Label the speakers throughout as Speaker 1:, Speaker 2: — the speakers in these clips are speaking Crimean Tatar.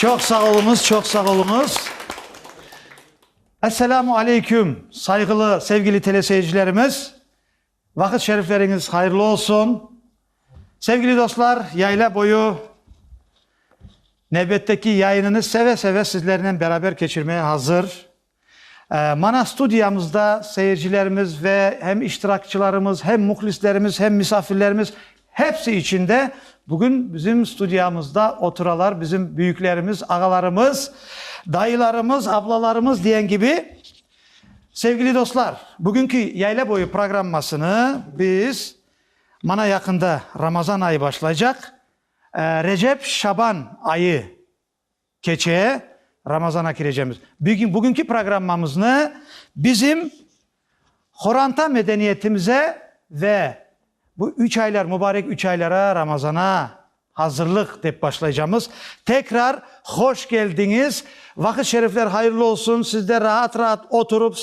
Speaker 1: Çoq sağ oluñız, çoq sağ oluñız. Esselamu aleyküm, sayğılı, sevgili teleseyircilerimiz. Vaqıt şerifleriñiz hayırlı olsun! Sevgili dostlar, Yayla boyu nevbetteki yayınını seve-seve sizlernen beraber keçirmeye hazır. Mana studiyamızda seyircilerimiz ve hem iştirakçılarımız, hem muhlislerimiz, hem misafirlerimiz hepsi içün de bugün bizim studiyamızda oturalar bizim büyüklerimiz, ağalarımız, dayılarımız, ablalarımız diyen kibi. Sevgili dostlar, bugünki Yayla boyu programmasını biz, mana yaqında Ramazan ayı başlaycaq, Recep, Şaban ayı keçe, Ramazana kirecemiz. Bugünki programmamıznı bizim Horanta medeniyetimize ve Bu üç aylar, mubarek üç aylara, Ramazana azırlıq dep başlaycamız. Tekrar hoş keldiñiz. Vaqıt şerifler hayırlı olsun. Siz de raat-raat oturıp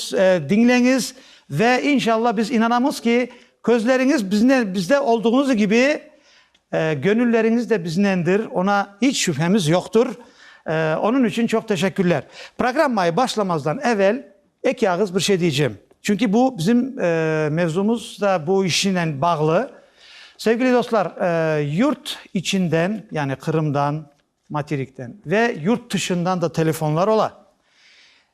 Speaker 1: diñleñiz. Ve inşallah biz inanamız ki, közleriñiz biznen, bizde olduğuñız kibi, gönülleriñiz de biznendir. Ona iç şübhemiz yoqtur. Onıñ içün çoq teşekkürler. Programmayı başlamazdan evel Eki ağız bir şey diycem, çünki bu bizim mevzumız da bu işinen bağlı. Sevgili dostlar, yurt içinden, yani Qırımdan, materikten ve yurt tışından da telefonlar ola.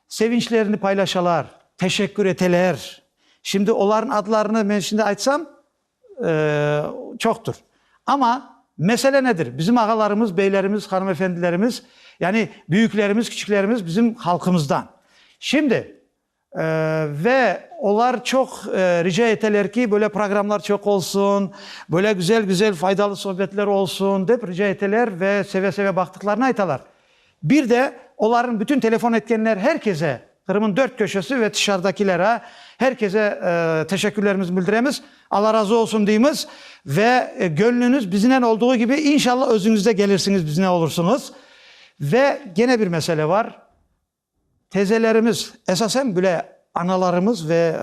Speaker 1: Sevinçlerini paylaşalar, teşekkür eteler. Şimdi olarnıñ adlarını men şimdi aytsam, çoqtur. Amma mesele nedir? Bizim ağalarımız, beylerimiz, hanımefendilerimiz, yani büyüklerimiz, küçüklerimiz bizim halqımızdan. Şimdi, ve olar çoq rica eteler ki, böyle programlar çoq olsun, böyle güzel-güzel, faydalı sohbetler olsun, dep rica eteler ve seve-seve baqtıqlarını aytalar. Bir de, olarnıñ bütün telefon etkenler her kese, Qırım'ın dört köşesi ve tışarıdakilere, her kese teşekkürlerimizni bildiremiz, Alla razı olsun deymiz ve göñlüniz biznen olduğu kibi, inşallah özüñiz de gelirsiñiz, biznen olursıñız. Ve gene bir mesele bar. Tezelerimiz, esasen bile analarımız ve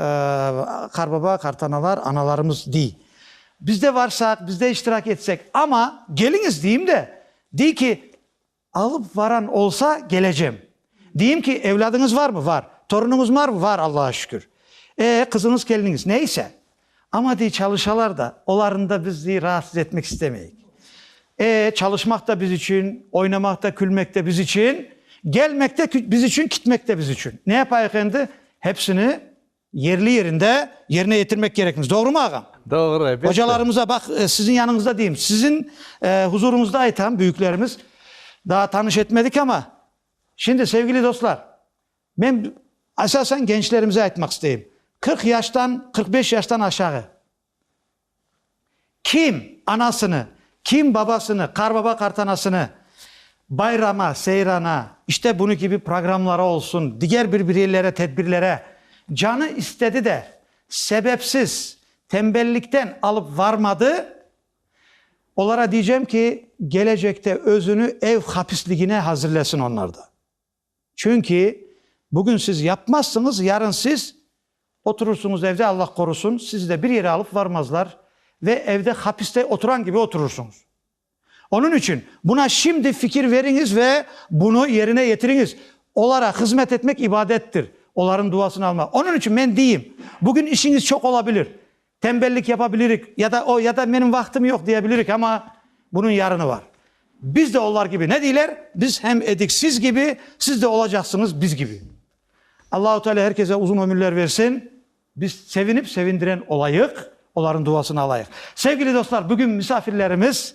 Speaker 1: qarbaba, qartanalar, analarımız dey, biz de varsaq, biz de iştirak etsek, amma keliñiz deyim de, dey ki, alıp varan olsa kelecem. Deyim ki, evlâdıñız varmı? Var. Torunuñız marmı? Var, Allağa şükür. E, qızıñız, keliniñiz, neyse. Amma, dey, çalışalar da, olarnı da biz, dey, raatsız etmek istemeyik. E, çalışmaq da biz içün, oynamaq da, külmek de biz içün, gelmek de biz içün, kitmek de biz içün. Ne yapayıq endi? Hepsini yerli-yerinde yerine yetirmek kerekmiz. Doğrumı, ağam? Doğru, elbette. Ocalarımıza, baq, siziñ yanıñızda deyim, siziñ huzuruñızda aytam, büyüklerimiz, daa tanış etmedik amma, şimdi, sevgili dostlar, Men esasen gençlerimize aytmaq isteyim, qırq yaştan, qırq beş yaştan aşağı kim anasını, kim babasını, qarbaba-qartanasını bayrama, seyrana, işte bunı kibi programlara olsun, diger bir bireylerge tedbirlere canı istedi de, sebepsiz, tembellikten alıp varmadı, olara diycem ki, gelecekte özünü ev hapisligine hazirlesin onlar da. Çünki bugün siz yapmazsıñız, yarın siz oturırsıñız evde, Allah qorusın, sizi de bir yere alıp varmazlar ve evde hapiste oturan kibi oturırsıñız. Onıñ içün buna şimdi fikir veriñiz ve bunı yerine yetiriñiz. Olara hızmet etmek ibadettir, olarnıñ duasını almaq. Onıñ içün men deyim, bugün işiñiz çoq ola bilir. Tembellik yapa bilirik, ya da o, ya da menim vaqtım yoq diye bilirik, amma bunıñ yarını bar. Biz de olar kibi, ne deyler? Biz hem edik siz kibi, siz de olacaqsıñız biz kibi. Allahu Teala her kese uzun ömürler versin. Biz sevinip sevindiren olayıq, olarnıñ duasını alayıq. Sevgili dostlar, bugün misafirlerimiz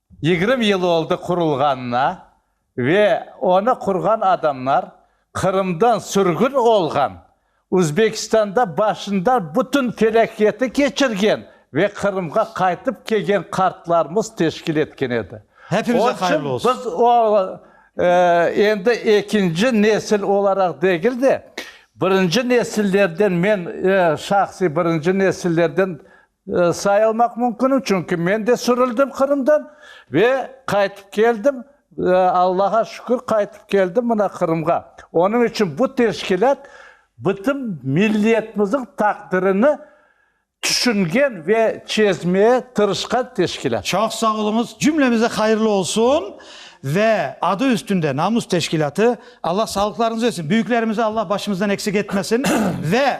Speaker 1: Yigirmi yıl oldı qurulğanına ve onı qurğan adamlar Qırımdan sürgün olğan, Uzbekistanda başından bütün felâketi keçirgen ve Qırımğa qaytıp kelgen qartlarımız teşkil etken edi. Hepimize hayırlı olsun! Biz o endi ekinci nesil olaraq degil de, birinci nesillerden, men şahsiy birinci nesillerden Sayılmaq mümkünim, çünki men de sürüldim Qırımdan ve qaytıp keldim. Allağa şükür, qaytıp keldim mına Qırımğa. Onıñ içün bu teşkilât bütün milletmizniñ taqdirini tüşüngen ve çezmeye tırışqan teşkilât. Çoq sağ oluñız, cümlemize hayırlı olsun ve adı üstünde Namus teşkilâtı. Allah sağlıqlarıñız versin, büyüklerimizi Allah başımızdan eksik etmesin ve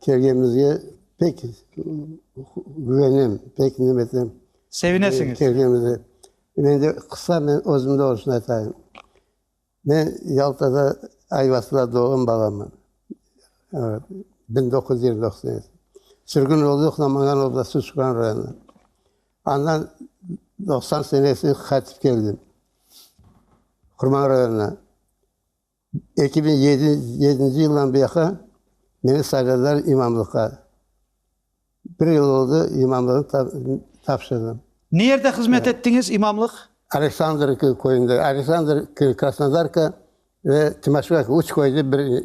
Speaker 1: Kelgenimizge pek güvenem, pek nem etem. Sevinesiñiz. Kelgenimizge. Men de qısa men özümde olışını aytayım. Men Yaltada, Ayvasıda doğğan balamman. Biñ doquz yüz yigirmi doquz senesi. Sürgün oldıq Namangan oblasti Şükran rayonına. Andan doqsan senesine qaytıp keldim Qurman rayonına. Eki biñ yedinci yıldan beyaqı meni sayladılar imamlıqqa. Bir yıl oldı, imamlıqnı tapşırdım. Nerde hızmet ettiñiz, imamlıq? Aleksandrıvka köyünde, Aleksandrıvka, Krasnodarka ve Timoşevo, üç köyde bir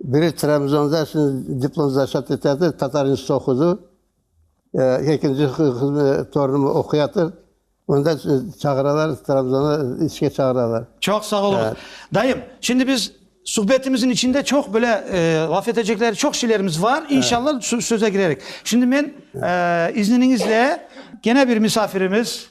Speaker 1: Biri Trabzonda şimdi diplom zaşat eteatır, Tatar institutında oqudı. Ekinci torunım oquyatır. Onda çağıralar, Trabzona işke çağıralar. Çoq sağ oluñ. Dayım, şimdi biz suhbetimizin içinde çoq böyle laf etecekler, çoq şeylerimiz var. İnşallah söze girerik. Şimdi men izniniñizle gene bir misafirimiz,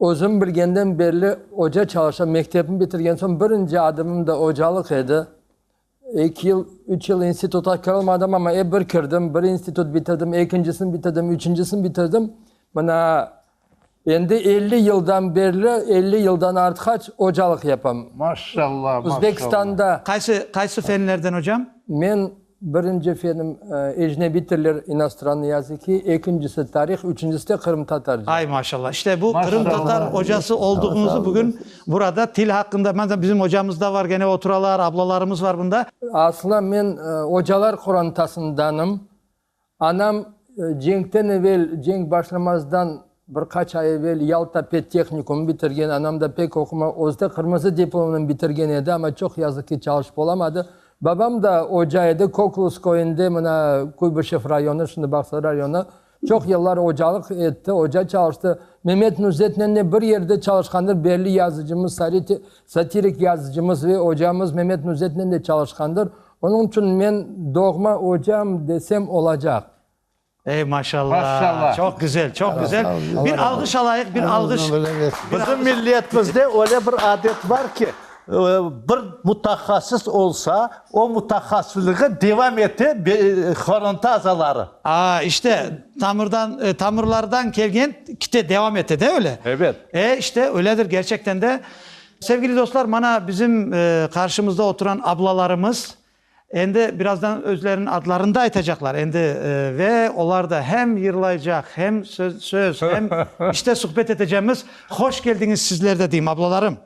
Speaker 1: Özüm bilgenden berli oca çalışam. Mektebni bitirgen soñ birinci adımım da ocalıq edi. Eki yıl, üç yıl instituta kirolmadım, amma ep bir kirdim. Bir institut bitirdim, ekincisini bitirdim, üçüncisini bitirdim. Mına endi elli yıldan berli, elli yıldan artqaç ocalıq yapam. Maşallah, maşallah. Özbekistanda. Qaysı, qaysı fenlerden, ocam? Men. Birinci efendim, ecnebiy tiller, inostrannoye yazıki, ekincisi, tarih, üçüncisi de qırımtatarca. Ay, maşallah! İşte bu qırımtatar ocası olduğunuzu bugün burada til haqqında, mende bizim ocamız da var, gene oturalar, ablalarımız var bunda. Asla men ocalar qorantasındanım. Anam cenkten evel, cenk başlamazdan bir qaç ay evel Yalta pedtehnikumı bitirgen. Anam da pek oquma, özü de qırmızı diplomnen bitirgen edi, amma çoq yazıq ki, çalışıp olamadı. Babam da oca edi, Koklus köyünde, mına Kuybışev rayonı, şimdi Bağsar rayonı, çoq yıllar ocalıq etti, oca çalıştı. Memet Nuzetnen de bir yerde çalışqandır, belli yazıcımız Sari Satirik yazıcımız ve ocamız Memet Nuzetnen de çalışqandır, onıñ içün men doğma ocam desem olacaq. Ey, maşalla, çoq güzel, çoq güzel. Bir alğış alayıq, bir alğış. Bizim milletimizde öyle bir adet bar ki, bir mutahassıs olsa, o mutahassıslığı devam ete horonta azaları. A, işte, Tamırdan, tamırlardan kelgen kite devam ete de öyle. Evet. E, işte öyledir gerçekten de. Sevgili dostlar, mana bizim qarşımızda oturan ablalarımız endi birazdan özleriniñ adlarını da aytacaqlar. Endi ve olar da hem yırlaycaq, hem söz, hem işte suhbet etecemiz. Hoş keldiñiz sizler de deyim, ablalarım.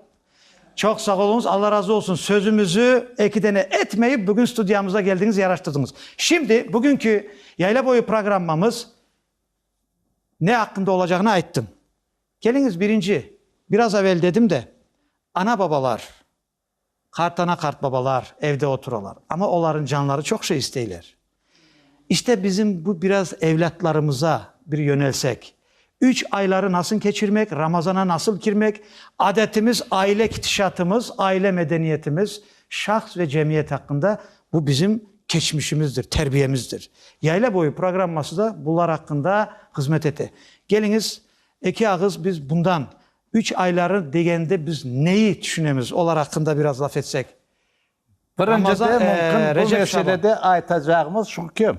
Speaker 1: Çoq sağ oluñız, Alla razı olsun, sözümizi eki dene etmeyip, bugün studiyamıza keldiñiz, yaraştırdıñız. Şimdi, bugünki Yayla boyu programmamız ne aqqında olacağını ayttıñ. Keliñiz, birinci, biraz avel dedim de, ana-babalar, qartana-qartbabalar evde oturalar, amma olarnıñ canları çoq şey isteyler. İşte bizim bu biraz evlâtlarımıza bir yönelsek. Üç ayları nasıl keçirmek, Ramazana nasıl kirmek, adetimiz, aile kitişatımız, aile medeniyetimiz, şahs ve cemiyet aqqında bu bizim keçmişimizdir, terbiyemizdir. Yayla boyu programması da bunlar aqqında hızmet ete. Keliñiz, eki ağız biz bundan, üç ayları degende biz neyi tüşünemiz, olar aqqında biraz laf etsek. Birincidem, bu meselede aytacağımız şu ki,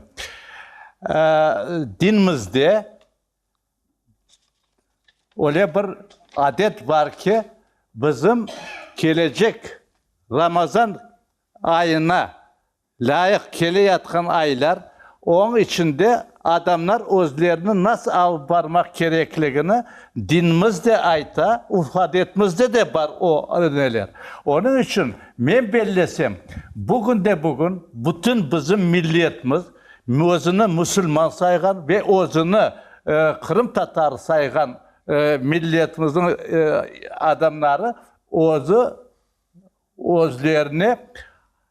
Speaker 1: dinimizde öyle bir adet bar ki, bizim kelecek Ramazan ayına lâyıq keleyatqan aylar, onıñ içinde Adamlar özlerini nasıl alıp barmaq kerekligini dinimiz de ayta, urf-adetimizde de bar o neler. Onıñ içün, men bellesem, bugünde-bugün bütün bizim milletimiz, özüni musulman sayğan ve özüni qırımtatar sayğan milletimizniñ adamları özü, Özlerine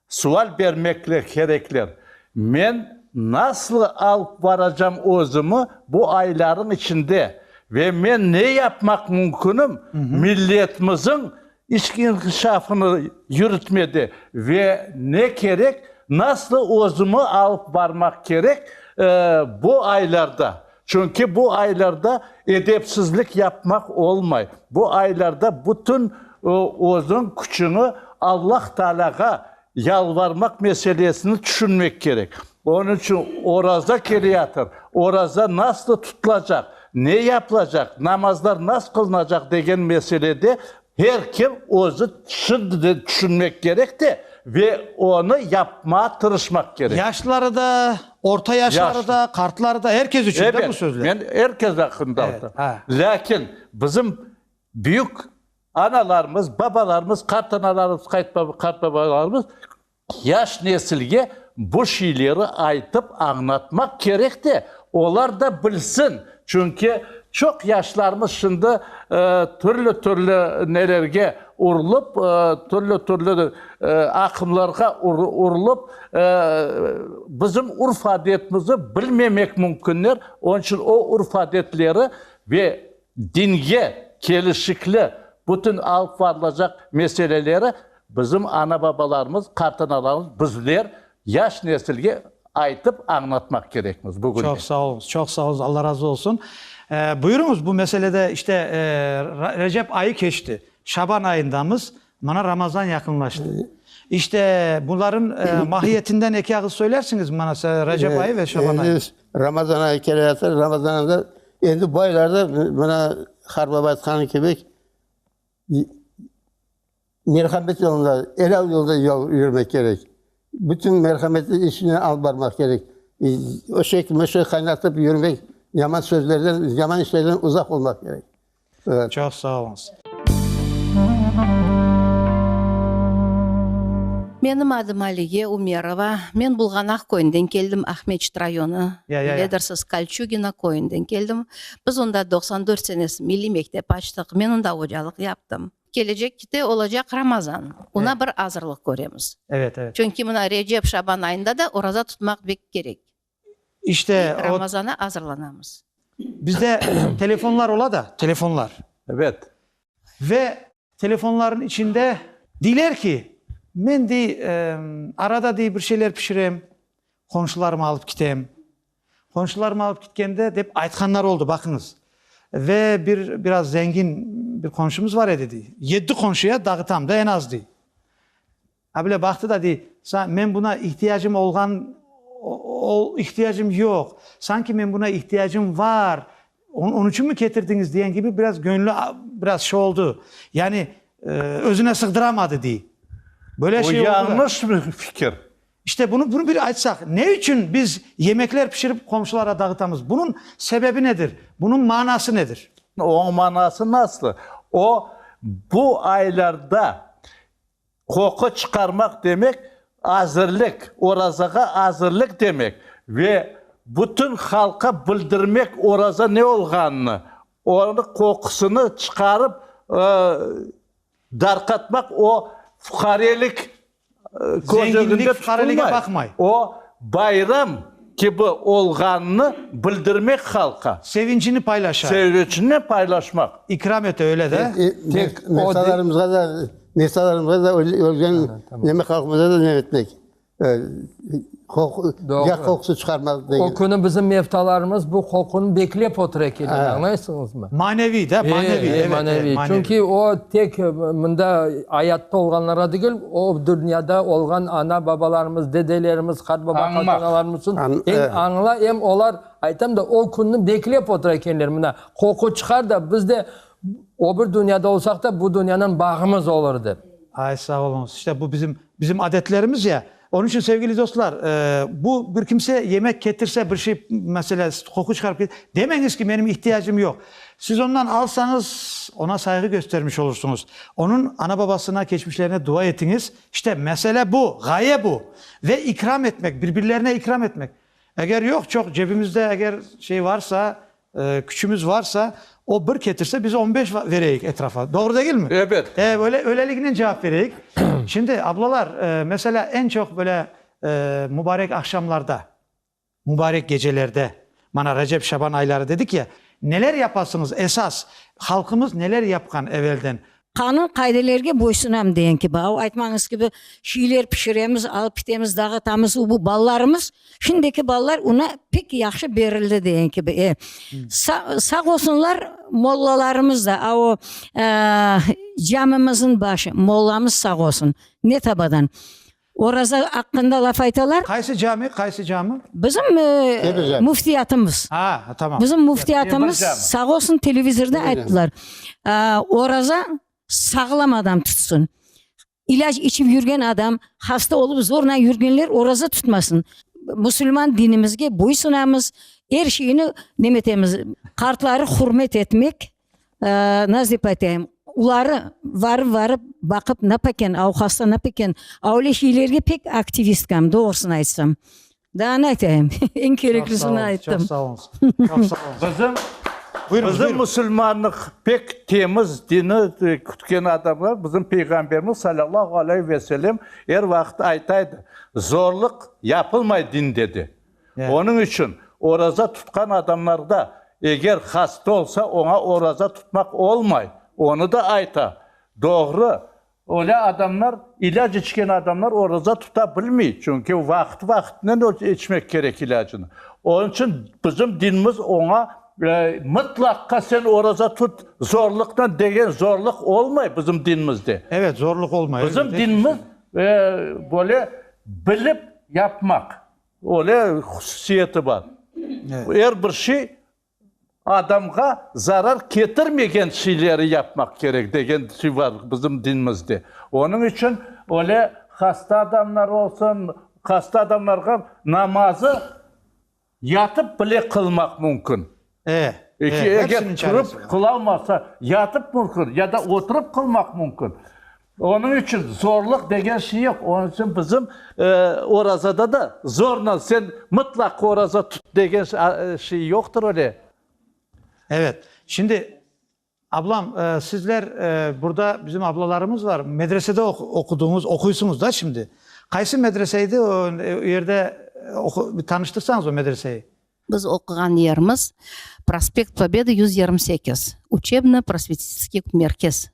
Speaker 1: sual bermekler kerekler, Men nasıl alıp baracam özümi bu aylarıñ içinde ve men ne yapmaq mümkünim milletmizin içki inkişafını yürütmede ve ne kerek, nasıl özümi alıp barmaq kerek bu aylarda? Çünki bu aylarda edepsizlik yapmaq olmay. Bu aylarda bütün özüñ küçüñi Allah Taalâğa yalvarmaq meselesini tüşünmek kerek. Onıñ içün oraza keleyatır, oraza naslı tutulacaq, ne yapılacaq, namazlar nasıl qılınacaq degen meselede Her kim özü şimdiden tüşünmek kerek de, ve onı yapmağa tırışmaq kerek. Yaşları da, orta yaşları da, qartları da, her kes içün de bu sözler. Ebet, men her kes aqqında aytam. Lâkin bizim büyük analarımız, babalarımız, qartanalarımız, qartbabalarımız Yaş nesilge bu şeyleri aytıp añlatmaq kerek de, olar da bilsin. Çünki çoq yaşlarımız şimdi türlü-türlü nelerge urılıp, türlü-türlü aqımlarğa urılıp, bizim urf-adetimizni bilmemek mümkünler. Onıñ içün o urf-adetleri ve dinge kelişikli bütün alıp varılacaq meseleleri Bizim ana-babalarımız, qartanalarımız, bizler yaş nesilge aytıp, añlatmaq kerekmiz bugün de. Çoq sağ oluñız, çoq sağ oluñız, Alla razı olsun. Buyuruñız, bu meselede işte Recep ayı keçti, Şaban ayındamız, mana Ramazan yaqınlaştı. İşte bunların mahiyetinden eki ağız söylersiñizmi bana, Recep ayı ve Şaban ayı? Ramazan ayı keleyatır, Ramazan ayında endi bu aylarda, mana Harbaba aytqanı kibi, Merhamet yolunda, er al yolda yol yürmek kerek. Bütün merhametli işini alıp barmaq kerek. Öşek, möşek qaynatıp yürmek, yaman sözlerden, yaman işlerden uzaq olmaq kerek. Aa. Çoq sağ oluñız. Menim adım Aliye Umerova. Men Bulğanaq köyünden keldim, Aqmescit rayonı. Ya, ya, ya. Biledirsiniz, Kolçugino köyünden keldim. Biz onda doqsan dört senesi milliy mektep açtıq. Men onda ocalıq yaptım. Kelecek kite olacaq Ramazan, ona bir azırlıq köremiz. Evet, evet. Çünki mına Recep, Şaban ayında da oraza tutmaq bek kerek. İşte o. Ramazana azırlanamız. Bizde telefonlar ola da, telefonlar. Evet. Ve telefonların içinde deyler ki, men dey, arada dey bir şeyler pişirem, qonşularıma alıp kitem. Qonşularım alıp kitkende, dep aytqanları oldı, baqıñız. Ve bir, biraz zengin bir qonşumız bar edi, dey. Yetti qonşuya dağıtam da, en az, dey. Ha böyle baqtı da, dey, Sa, men buna ihtiyacım olğan, ol, ihtiyacım yoq, sanki men buna ihtiyacım var, on, onıñ içünmi ketirdiñiz, diyen kibi biraz göñlü, biraz şey oldı, yani, özüne sığdıramadı, dey. Böyle şey oldı da. O yañlış bir fikir. İşte bunı bunu bir aytsaq, ne içün biz yemekler pişirip qomşulara dağıtamız? Bunıñ sebebi nedir? Bunıñ manası nedir? Onıñ manası nasıl? O, bu aylarda qoqu çıqarmaq demek, azırlık, orazağa azırlık demek ve bütün halqa bildirmek oraza ne olğanını, onıñ qoqusını çıqarıp, Darqatmaq o fuqarelik közeginde tutulmay, o bayram kibi olğanını bildirmek halqa. Sevincini paylaşa. Sevincini paylaşmaq. İkram ete, öyle de? Tek o. Mesalarımızğa da, mesalarımızğa da, ölgen neme halqımıza da ne etmek. Yaq qoqusı çıqarmaz degen. O künü bizim mevtalarımız bu qoqunı beklep otur ekenler, añlaysıñızmı? Maneviy da, maneviy, evet, maneviy. Çünki o tek mında ayatta olğanlara degil, o dünyada olğan ana-babalarımız, dedelerimiz, qartbaba-qartanalarımız içün em añla, em olar, aytam da, o künü beklep otur ekenler, mına qoqu çıqar da, biz de öbür dünyada olsaq da, bu dünyanen bağımız olur dep. Ay, sağ oluñız. İşte bu bizim. Bizim adetlerimiz ya. Onıñ içün, sevgili dostlar, bu bir kimse yemek ketirse, bir şey, mesele, qoqu çıqarıp ket, demeñiz ki, menim ihtiyacım yoq. Siz ondan alsañız, ona sayğı köstermiş olursuñız. Onıñ ana-babasına, keçmişlerine dua etiñiz. İşte, mesele bu, ğaye bu. Ve ikram etmek, bir-birlerine ikram etmek. Eger yoq, çoq, cebimizde eger şey varsa, Küçümiz varsa, o bir ketirse, biz on beş vereyik etrafa. Doğru degilmi? Ebet. E, öyle, öyleliginen cevap vereyik. Şimdi, ablalar, meselâ, eñ çoq böyle mübarek ahşamlarda, mübarek gecelerde, mana, Recep, Şaban ayları dedik ya, neler yapasıñız, esas halqımız neler yapqan evelden? Qanun qaidelerge boysunam degen kibi, av aytmañız kibi, şiyler pişiremiz, alıp kitemiz, dağıtamız, u bu balalarımız, şimdiki balalar una pek yahşı berildi degen kibi. E, sa, sağ olsunlar mollalarımız da, a o, e, camimizin başı mollamız sağ olsun, ne tabadan. Oraza aqqında laf aytalar. Qaysı cami, qaysı cami? Bizim müftiyatımız. Ha, tamam. Bizim müftiyatımız sağ olsun televizorda ayttılar. Oraza sağlam adam tutsın. İlac içip yürgen adam, hasta olup zorla yürgenler oraza tutmasın. Musulman dinimizge boysunamız, er şeyni nemetemiz, qartları hürmet etmek, Nazip atayım, uları varıp varıp baqıp napeken avuqası napeken avle şeylerge pek aktivistkam doğrusını aytsam. Daa ne aytayım, eñ kereklisini ayttım. Bizim bizim musulmanlıq pek temiz dini kütken adamlar bizim peyğamberimiz salâllahu aleyh ve selem er vaqıt aytaydı, zorluq yapılmay dinde de. Onıñ içün oraza tutqan adamlarda eger hasta olsa, oña oraza tutmaq olmay, onı da ayta. Doğru. Öyle adamlar, ilâc içken adamlar oraza tuta bilmey, çünki vaqıt-vaqıtınen içmek kerek ilâcını. Onıñ içün bizim dinimiz oña, mıtlaqqa sen oraza tut, zorluqnen degen zorluq olmay bizim dinimizde. Evet, zorluq olmay. Bizim dinimiz böyle bilip yapmaq. Öyle hususiyeti bar. Er bir şey adamğa zarar ketirmegen şeyleri yapmaq kerek degen şey bar bizim dinimizde. Onıñ içün öyle hasta adamlar olsun, hasta adamlarğa namazı yatıp bile qılmaq mümkün. Eki, eger turıp qılalmasa, yatıp mümkün, ya da oturıp qılmaq mümkün. Onıñ içün zorluq degen şey yoq. Onıñ içün bizim orazada da zorla sen mıtlaq oraza tut degen şey yoqtır öyle. Şimdi, Ablam, sizler, burda bizim ablalarımız var, medresede oqudıñız, oquysıñız da şimdi. Qaysı medrese edi, o yerde bir tanıştırsañız o medreseyi. Biz oquğan yerimiz, Prospekt Pobedi yüz yirmi sekiz, Uçebno-prosvetitskiy merkez,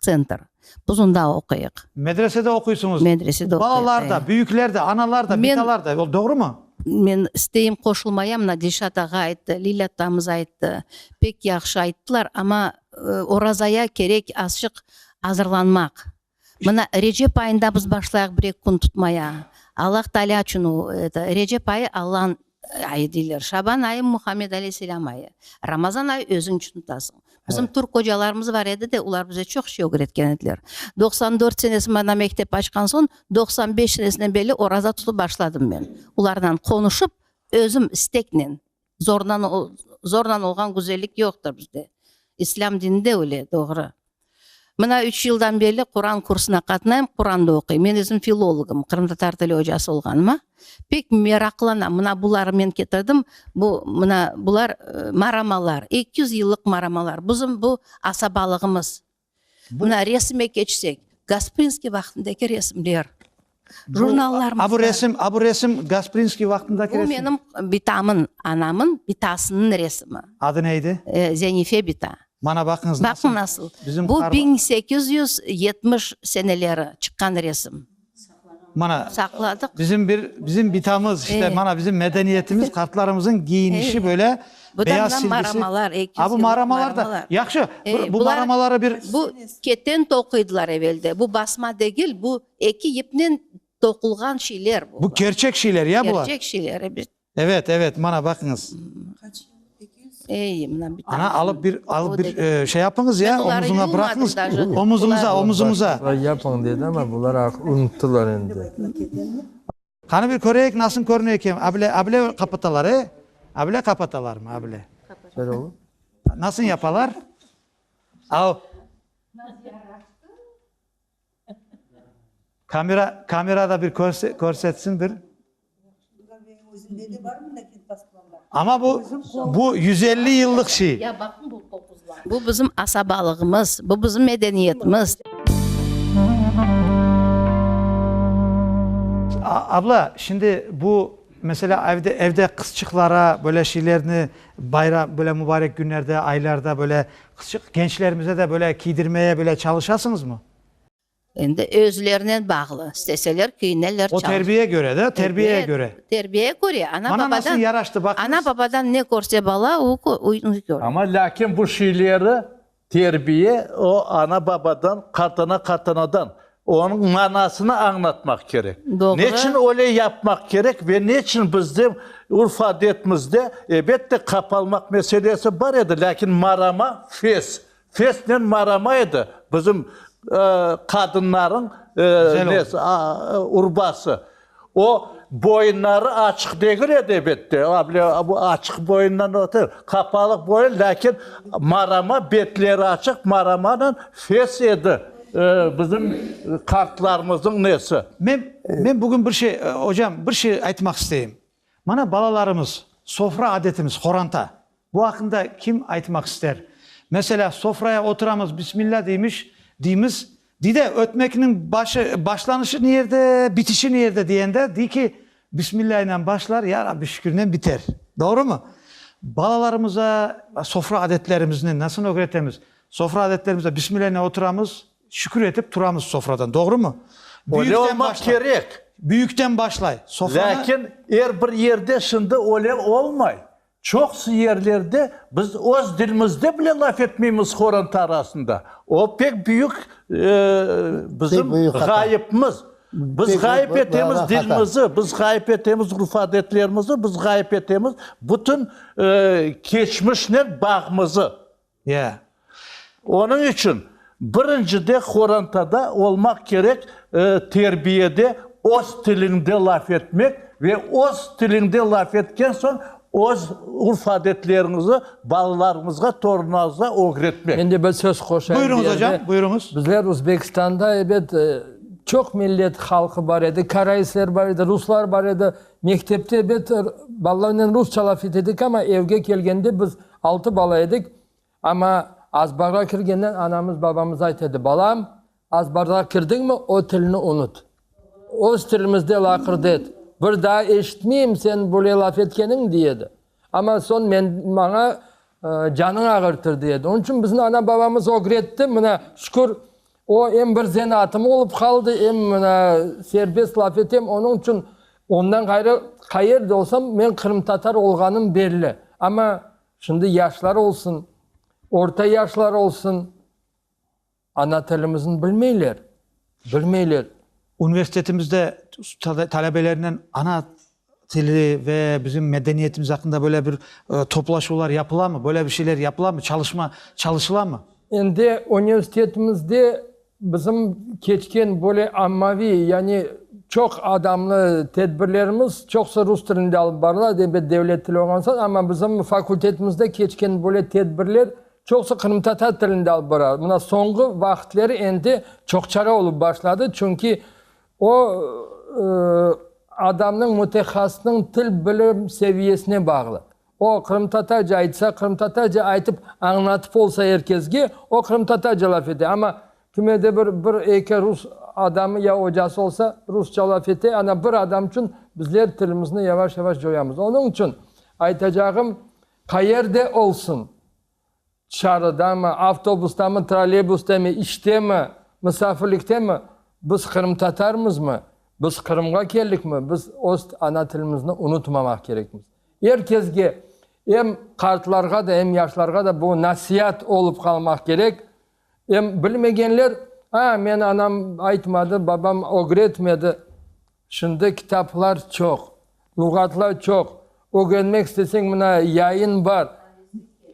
Speaker 1: Tsentr. Biz onda oquyıq. Medresede oquysıñız. Medresede oquyıq. Balalar da, büyükler de, analar da, bitalar da. O doğrumı? Men isteyim qoşulmaya, mına Dilşat ağa ayttı, Lilâ atamız ayttı. Pek yahşı ayttılar, amma orazaya kerek azçıq azırlanmaq. Mına Recep ayında biz başlayıq bir-eki kün tutmaya. Allah Teala içün o, eto, Recep ayı Allanıñ Ayı deyler, Şaban ayı, Muhammed aleyhisselam ayı. Ramazan ayı özüñ içün tutasıñ. Bizim türk qocalarımız bar edi de, olar bize çoq şey ögretken ediler. Doqsan dört senesi mana mektep açqan soñ, doqsan beş senesinden belli oraza tutıp başladım men. Olarnan qonuşıp, özüm isteknen, zornan, zornan olğan güzellik yoqtır bizde. İslâm dininde öyle, doğru. Mına üç yıldan berli Quran kursuna qatnayım, Quran da oquyım. Men özüm filologım, qırımtatar tili ocası olğanıma pek meraqlanam. Mına buları men ketirdim, bu, mına bular maramalar, eki yüz yıllıq maramalar. Bizim bu asabalığımız. Mına resime keçsek, Gasprinskiy vaqtındaki resimler. Jurnallarımızda. A bu resim, a bu resim Gasprinskiy vaqtındaki resim. Bu menim bitamın, anamın bitasınıñ resimi. Adı ne edi? Zenife bita. Mana baqıñız nasıl. Baqıñ nasıl. Bizim. Bu biñ sekiz yüz yetmiş seneleri çıqqan resim. Mana. Saqladıq. Bizim bir, bizim bitamız işte, mana bizim medeniyetimiz, qartlarımızıñ giyinişi böyle. Bu da mına maramalar. A bu maramalar da. Yahşı, bu maramaları bir. Bu keten toquydılar evelde. Bu basma degil, bu. Eki ipnen toqulğan şeyler bu. Bu kerçek şeyler ya bular? Kerçek şeyler, ebet. Evet, evet, mana baqıñız. Ey, mına bir tane. Ana, alıp bir, alıp bir e, şey yapıñız ya, omuzuna bırakıñız. Omuzunıza, omuzunıza. Yapıñ dedi ama bular artıq unuttılar endi. Qani bir köreyik nasıl körüne ekem, able, able qapatalar, e? Able qapatalarmı, able? Nasıl yapalar? Au. Kamera, kamerada bir körsetsin bir. Özünde de bar mında kent pasportı? Amma bu, bu yüz elli yıllıq şiir. Bu bizim asabalığımız, bu bizim medeniyetimiz. Abla, şimdi bu, meselâ, evde, evde qızçıqlara böyle şeylerni bayram, böyle mübarek günlerde, aylarda böyle qızçıq, gençlerimize de böyle kiydirmeye böyle çalışasıñızmı? Endi özlerinen bağlı, isteseler kiyneler, çalış. O terbiye göre de, terbiyeye göre. Terbiyeye göre, ana babadan. Bana nasıl yaraştı baqıñız. Ana babadan ne körse bala, o körü. Amma lâkin bu şeyleri terbiye o ana babadan, qartana qartanadan, onıñ manasını añlatmaq kerek. Doğru. Neçün öyle yapmaq kerek ve neçün bizde urf-adetimizde, ebet de, qapalmaq meselesi bar edi, lâkin marama, fes, Sesnen maramaydı bizim qadınlarnıñ nesi, urbası. O boyunları açıq degil edi, ebette, abile açıq boyundan öte, qapalıq boyun, lâkin marama, betleri açıq maramanen fes edi bizim qartlarımıznıñ nesi. Men, men bugün bir şey, ocam, bir şey aytmaq isteyim. Mana balalarımız, sofra adetimiz, qoranta. Bu aqqında kim aytmaq ister? Meselâ, sofraya oturamız, Bismillâ deymiş, deymiz, dey de, ötmekniñ başı, başlanışı ne yerde, bitişi ne yerde diyende, dey ki, Bismillâ ile başlar, Ya Rabbi şükürnen biter. Doğrumı? Balalarımıza sofra adetlerimizini nasıl ögretemiz? Sofra adetlerimizde Bismillâ ile oturamız, Şükür etip turamız sofradan, doğrumı? Öyle olmaq kerek. Büyükten başlay. Sofranı. Lâkin er bir yerde şimdi öyle olmay. Çoqusı yerlerde biz öz dilimizde bile laf etmeymiz horant arasında. O pek büyük bizim ğayıpmız. Biz ğayıp etemiz dilimizi, biz ğayıp etemiz urf-adetlerimizi, biz ğayıp etemiz bütün keçmişnen bağımızı. Ya. Onıñ içün birincide qorantada olmaq kerek terbiyede öz tiliñde laf etmek ve öz tiliñde laf etken soñ öz urf-adetleriñizi balalarıñızğa, torunlarıñızğa ögretmek. Mende bir söz qoşayım. Buyurıñız ocam, buyurıñız. Bizler Uzbekistanda ebet çoq millet halqı bar edi, karaisler bar edi, ruslar bar edi. Mektepte ebet balalarnen rusça laf etedik ama evge kelgende biz Altı bala edik, amma azbarğa kirgenden anamız, babamız ayt edi, Balam, azbarğa kirdiñmi, o tilni unut. Öz tilimizde laqırdı et. Bir daa eşitmeyim seniñ böyle laf etkeniñ, dey edi. Amma soñ men, maña canıñ ağırtır, dey edi. Onıñ içün biziñ ana-babamız ögretti, mına, şükür, O, em bir zenaatım olıp qaldı, em mına serbest laf etem, onıñ içün ondan ğayrı qayerde olsam, men qırımtatar olğanım belli. Amma şimdi yaşlar olsun, orta yaşlar olsun, ana tilimizin bilmeyler, bilmeyler. Universitetimizde talebelernen ana Tili ve bizim medeniyetimiz aqqında böyle bir toplaşuvlar yapılamı? Böyle bir şeyler yapılamı? Çalışma çalışılamı? Endi universitetimizde bizim keçken böyle ammaviy, yani çoq adamlı tedbirlerimiz çoqsı rus tilinde alıp barıla, elbet devlet tili olğan soñ, amma bizim fakultetimizde keçken böyle tedbirler çoqsı qırımtatar tilinde alıp barıla. Mına soñğu vaqıtları endi çoqçara olıp başladı, çünki O, adamnıñ, mütehasısnıñ til bilim seviyesine bağlı. O, qırımtatarca aytsa, qırımtatarca aytıp, añlatıp olsa er kesge, o qırımtatarca laf ete. Amma kime de bir, bir, eki rus adamı ya ocası olsa, rusça laf ete. Ana, bir adam içün bizler tilimizni yavaş-yavaş coyamız. Onıñ içün aytacağım, qayerde olsun, Çarıdamı, avtobustamı, trolleybustemi, iştemi, misafirliktemi, biz qırımtatarmızmı, biz Qırımğa keldikmi, biz öz ana tilimizni unutmamaq kerekmiz. Er kesge, em qartlarğa da, em yaşlarğa da bu nasiat olıp qalmaq kerek. Em bilmegenler, a, meni anam aytmadı, babam ögretmedi. Şimdi kitaplar çoq, luğatlar çoq, ögenmek isteseñ, mına, yayın bar,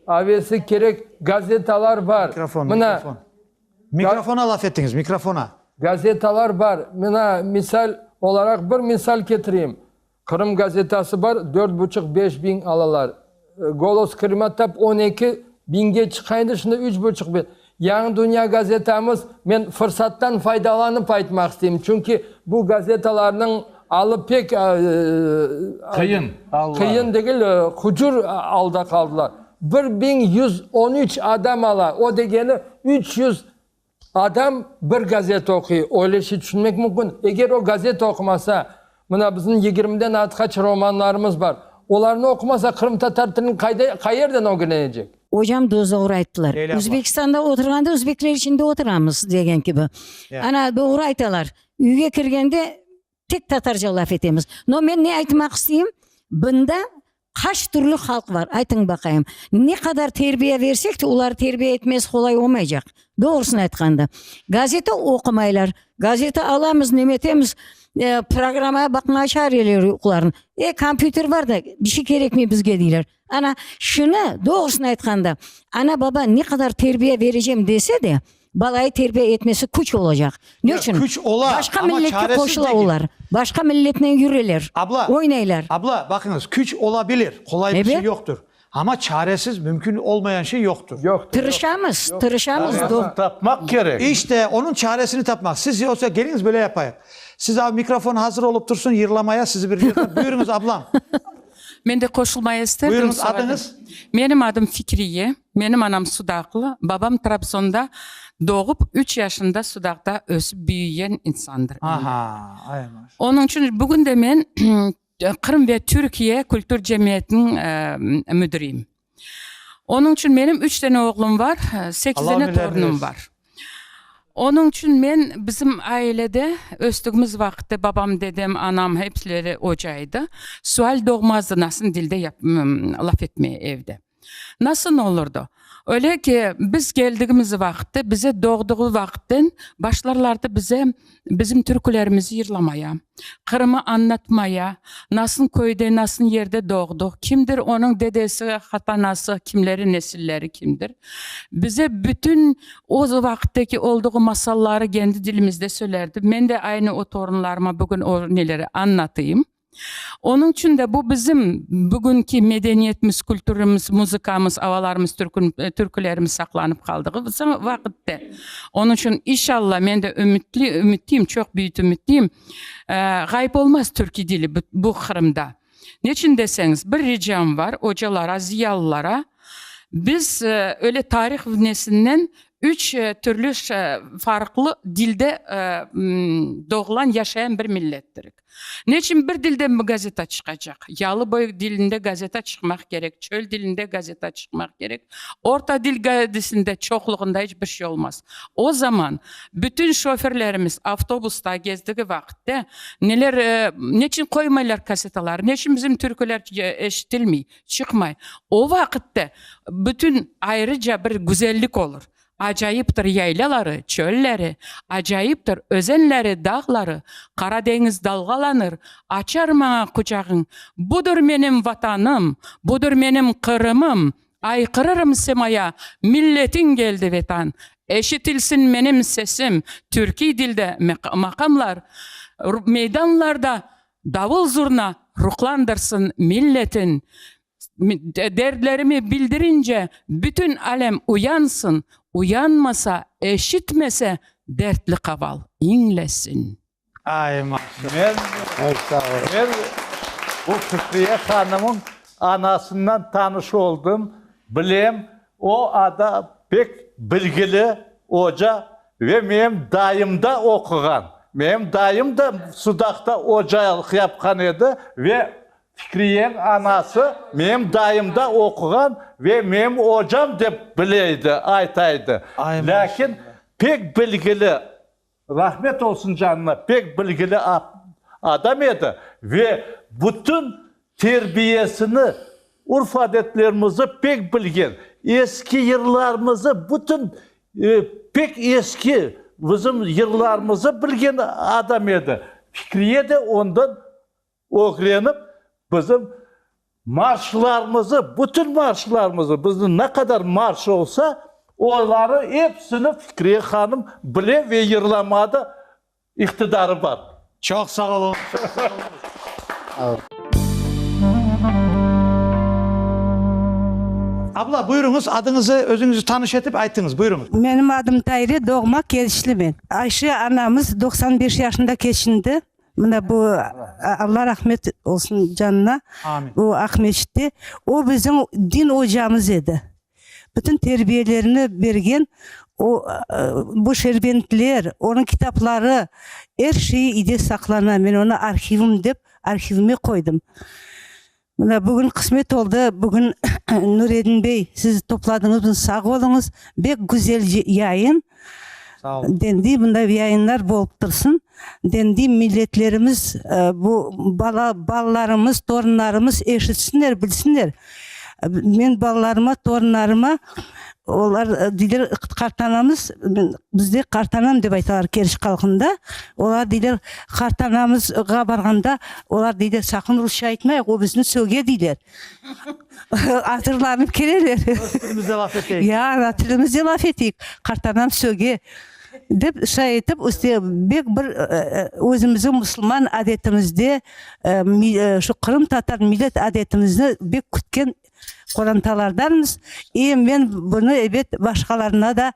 Speaker 1: avesi kerek gazetalar bar. Mikrofon, mikrofon. Mikrofona laf ettiñiz, mikrofona. Gazetalar bar. Mına, misal olaraq bir misal ketireyim. Qırım gazetası bar, dört buçuq, beş biñ alalar. Golos Krıma tap on eki biñge çıqa endi, şimdi üç buçuq biñ. Yañı Dünya gazetamız, men fırsattan faydalanıp aytmaq isteyim, çünki bu gazetalarnıñ alı pek Qıyın aldılar. qıyın degil, hucur alda qaldılar. Bir biñ yüz on üç adam ala, o degeni üç yüz. Adam bir gazeta oquy, öyle şey tüşünmek mümkün. Eger o gazeta oqumasa, mına bizim yigirmiden artqaç romanlarımız bar, olarnı oqumasa qırımtatar tilini qayda, qayerden ögrenecek? Ocam dozogru ayttılar. Uzbekistanda oturğanda uzbekler içinde oturamız degen kibi. Ana dogru aytalar. Üyge kirgende Tek tatarca laf etemiz. No men ne aytmaq isteyim, bında qaç türlü halq bar, aytıñ baqayım. Ne qadar terbiye versek de, oları terbiye etmez qolay olmaycaq, doğrusını aytqanda. Gazete oqumaylar, gazete alamız, nemetemiz, e, programmaya baqmaya çağırıverirler oqularını. E, kompyuter bar da, bir şey kerekmey bizge, deyler. Ana, şunı, doğrusını aytqanda, ana-baba ne qadar terbiye berecem dese de, balayı terbiye etmesi küç olacaq. Ne Ya, içün? küç ola, Başqa amma milletke çaresiz qoşula degil. olar. Başqa milletnen yüreler, Abla, oynaylar. abla, baqıñız, küç ola bilir, qolay bir şey Ebet. yoqtur. Amma çaresiz, mümkün olmayan şey yoqtur. Yoqtur, yoq. Tırışamız, tırışamız. Çaresini Doğ- tapmaq kerek. İşte, onıñ çaresini tapmaq. Siz yoksa keliñiz böyle yapayıq. Siz, a, mikrofon hazır olıp tursın, yırlamaya sizi bir yerden. Buyurıñız, ablam. Men de qoşulmaya isterdim. Buyurıñız, adıñız? Menim adım Fikriye. Menim anam sudaqlı, babam Trabzonda doğıp, üç yaşında sudaqta ösip büyüyen insandır. Aha, ay maşallah. Onıñ içün bugün de men Qırım ve Türkiye kültür cemiyetiniñ müdiriyim. Onıñ içün menim üç dene oğlum bar, sekiz dene torunım bar. Onıñ içün men, bizim ailede östügimiz vaqıtı babam, dedem, anam hepsileri oca edi. Sual doğmazdı, nasıl dilde laf etmeye evde. Nasıl olurdı? Öyle ki, biz geldigimiz vaqıtı, bize doğduğu vaqıttan başlarlardı bize, bizim türkülerimizi yırlamaya, Qırımı añlatmaya, nasıl köyde, nasıl yerde doğdıq, kimdir onıñ dedesi, hatanası, kimleri, nesilleri kimdir, bize bütün o vaqıttaki olduğu masalları kendi dilimizde söylerdi. Men de aynı o torunlarıma bugün o neleri añlatayım. Onıñ içün de bu bizim bugünki medeniyetimiz, kültürimiz, muzıkamız, avalarımız, türkülerimiz saqlanıp qaldığı vaqıttı. Onıñ içün, inşallah, men de ümütli, ümitliyim, çoq büyük ümitliyim, ğayıp olmaz türkü dili bu Qırımda. Neçün deseñiz, bir ricam bar ocalara, ziyalılara, biz öyle tarih vnesinden üç türlü farqlı dilde doğulan, yaşayan bir millettirik. Ne içün bir dilde gazeta çıqacaq? Yalı boy dilinde gazeta çıqmaq kerek, çöl dilinde gazeta çıqmaq kerek, orta dil gaedisinde çoqluğında iç bir şey olmaz. O zaman bütün şoferlerimiz avtobusta gezdigi vaqitte neler, ne içün qoymaylar kasetalar, ne içün bizim türküler eşitilmey, çıqmay? O vaqitte bütün ayrıca bir güzellik olur. Acayiptir yaylaları, çölleri, Acayiptir özenleri, dağları, Qara deñiz dalğalanır, Açar maña quçağıñ. Budur menim Vatanım, Budur menim Qırımım, Ayqırırım semaya, Milletin keldi Vetan. Eşitilsin menim sesim, Türkiy dilde maqamlar, Meydanlarda davul-zurna Ruhlandırsın milletin. Dertlerimi bildirince bütün alem uyansın, uyanmasa, eşitmese, dertli qaval, iñlesin. Ay, maşallah. Men bu Fikriye hanımıñ anasından tanış oldım, bilem. O ada pek bilgili oca ve menim dayımda oquğan. Menim dayım da Sudaqta ocalıq yapqan edi ve Fikriyeñ anası menim dayımda oquğan ve menim ocam dep bileydi, aytaydı. Lâkin pek bilgili, rahmet olsun canına, pek bilgili adam edi ve bütün terbiyesini, urf-adetlerimizi pek bilgen, eski yırlarımızı, bütün pek eski bizim yırlarımızı bilgen adam edi. Fikriye de ondan Ögrenip, bizim marşlarımızı, bütün marşlarımızı, bizniñ ne qadar marş olsa, oları epsini Fikriye hanım bile ve yırlamada iqtidarı bar. Çoq sağ oluñız, çoq sağ oluñız. Abla, buyuruñız, adıñızı, özüñizi tanış etip aytıñız. Buyuruñız. Menim adım Tayre, doğma Kerişli men. Ayşe anamız doqsan beş yaşında keçindi. Mına bu, Alla rahmet olsun canına, bu Aqmescitte, o bizim din ocamız edi. Bütün terbiyelerini bergen, o, bu Şerbentler, onıñ kitapları, er şeyi iyde saqlana, men onı arhivim dep arhivime qoydım. Mına, bugün qısmet oldı, bugün Nuredin bey, siz topladıñızmız, sağ oluñız. Bek güzel yayın. Sağ ol. Dendi, bunday yayınlar bolıp tursın. Dendi, milletlerimiz, e, bu bala, balalarımız, torunlarımız eşitsinler, bilsinler. E, Men balalarıma, torunlarıma Olar deyler, qartanamız, bizde qartanam dep aytalar Keriç halqında. Olar deyler, qartanamızğa barğanda, olar deyler, saqın rusça aytmayıq, o bizni söge, deyler. Azırlanıp keleler. Öz tilimizde laf eteyik. Ya, ana tilimizde laf eteyik, qartanam söge, dep şay etip, üste bek bir özümizniñ musulman adetimizde şu qırımtatar millet adetimizni bek kütken qorantalardanmız, i men bunı, ebet, başqalarına da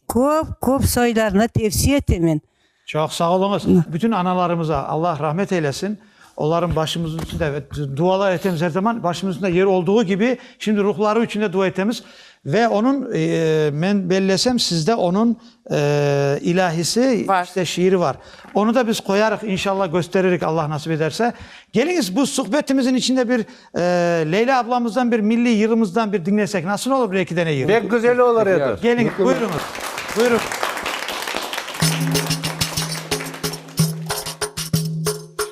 Speaker 1: köp, köp soylarına tevsiye etemen. Çoq sağ oluñız. Bütün analarımıza Allah rahmet eylesin. Olarnıñ başımızın üstünde, ebet, dualar etemiz er zaman. Başımızın üstünde yeri olduğu kibi, şimdi ruhları içün de dua etemiz. Ve onıñ, men bellesem sizde onıñ ilâhisi, işte şiiri var. Onı da biz qoyarıq, inşallah kösteririk Allah nasip ederse. Keliñiz, bu suhbetimizin içinde bir Leyla ablamızdan bir milliy yırımızdan bir diñlesek nasıl olur, bir eki dene yır? Pek güzel olur edi. Keliñiz, buyurıñız, buyurıñız.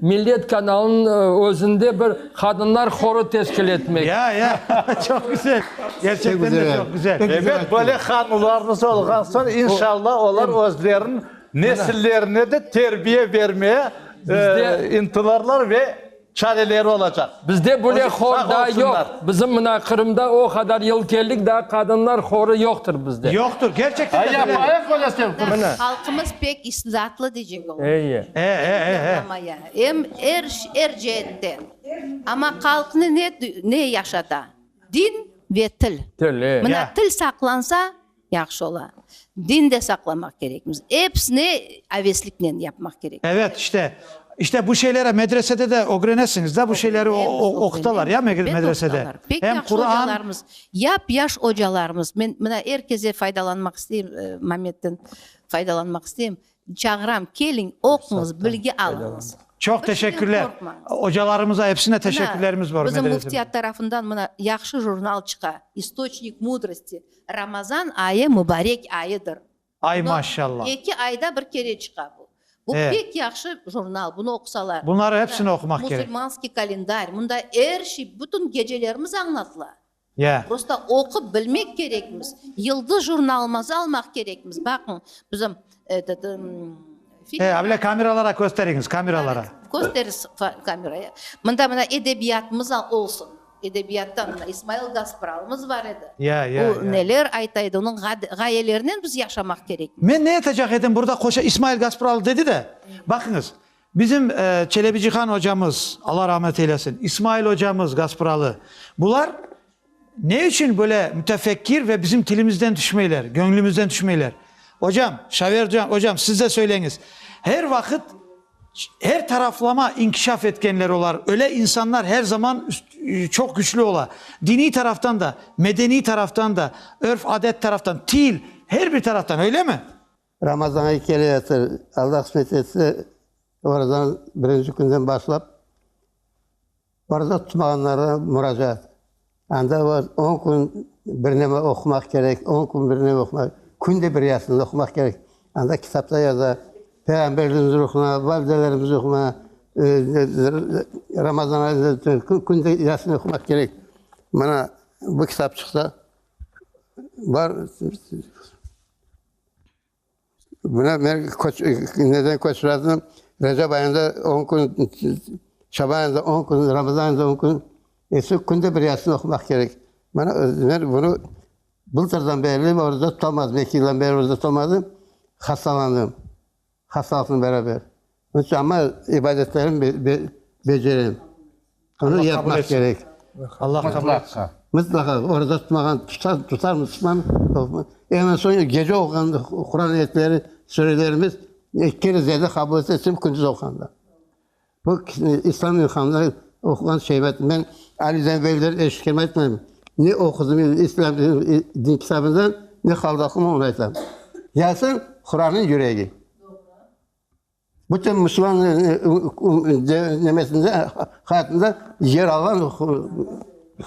Speaker 1: Millet kanalınıñ özünde bir qadınlar horu teşkil etmek. Ya, ya, çoq güzel. Gerçekten de çoq güzel. Ebet, böyle hanularımız olğan soñ, inşallah, olar özleriniñ nesillerine de terbiye bermeye ıntılarlar ve çareleri olacaq. Bizde böyle hor daa yoq. Bizim mına Qırımda o qadar yıl keldik, daa qadınlar horı yoqtır bizde. Yoqtır, gerçekten de böyle. Ay, yapayıq böyle sen qız. Mına. Halqımız pek isnatlı diycek olam. Eye. E, e, e, e. Yaplamaya, em er, er ceetten. Amma halqnı ne, ne yaşata? Din ve til. Til, e. Mına til saqlansa. Yahşı ola. Din de saqlamaq kerekmiz. Episini avesliknen yapmaq kerek. Evet, işte, işte bu şeyleri medresede de ögrenesiñiz da, bu şeyleri oqutalar ya medresede. Pek yahşı ocalarımız, yap yaş ocalarımız. Men mına er keze faydalanmaq isteyim, Mametten faydalanmaq isteyim. Çağıram, keliñ, oquñız, bilgi alıñız. Çoq teşekkürler. Ocalarımıza epsine teşekkürlerimiz bor. Bizim Müftiyat tarafından mına yahşı jurnal çıqa, İstoçnik mudrosti. Ramazan ayı mubarek ayıdır. Ay maşallah. Eki ayda bir kere çıqa bu. Bu pek yahşı jurnal, bunu oqusalar. Bunları epsini oqumaq kerek. Musulmanskiy kalendarь, mında er şey, bütün gecelerimiz añlatıla. Ya. Prosta oqup bilmek kerekmiz. Yıldız jurnalımızı almaq kerekmiz. Baqıñ, bizim etet, ımm, He, a bile kameralara kösteriñiz, kameralara. Kösteris kameraya. Mında mına edebiyatımız olsun. Edebiyattan mına İsmail Gaspralımız bar edi. Ya, ya, ya. O neler ayta edi, onıñ ğayelerinen biz yaşamaq kerekmiz. Men ne etecek edim, burada qoşa İsmail Gaspralı dedi de, baqıñız, Bizim Çelebi Cihan ocamız, Alla rahmet eylesin, İsmail ocamız Gaspıralı, bular ne içün böyle mütefekkir ve bizim tilimizden tüşmeyler, göñlümizden tüşmeyler? Ocam, Şaver ocam, siz de söyleñiz. Her vaqıt, her taraflama inkişaf etkenler olar, öyle insanlar her zaman çoq küçlü ola. Diniy taraftan da, medeniy taraftan da, örf-adet taraftan, til, her bir taraftan, öylemi? Ramazan ayı kele yatır. Alla qısmet etse, orazanıñ birinci künden başlap, oraza tutmağanlarğa muracaat. Anda var, on kün bir neme oqumaq kerek, on kün bir neme oqumaq, künde bir yasin oqumaq kerek. Anda kitapta yaza, Peyğamberimiz ruhuna, validelerimiz ruhuna, Ramazan ayında künde yasin oqumaq kerek. Mana bu kitapçıqta bar. Buna men neden köçmezdim, Recep ayında on kün, Şaban ayında on kün, Ramazan ayında on kün, eşi künde bir Yasin oqumaq kerek. Mana men bunı bıltırdan berli orda tutamazdım, eki yıldan beri orda tutamadım, hastalandım. Hastalıqnen beraber onıçün amma ibadetlerim becerem. Bunı yapmaq kerek. Mıtlaqa oraza tutmağan tutar musulman. Eñ soñu gece oquğan Quran ayetleri, surelerimiz ikki kere ziyade qabul etilsin, kündiz oquğanda. Bu kişini İslam ilhamları oquğan şeybet. Men Ali'den beyler eşitken aytmayım. Ne oqudım men İslam din kitabından, ne Haldaqu'nı oña aytam. Yasin, Quran'nıñ yüregi. Bütün Müslüman nemesinde, hayatında yer alğan.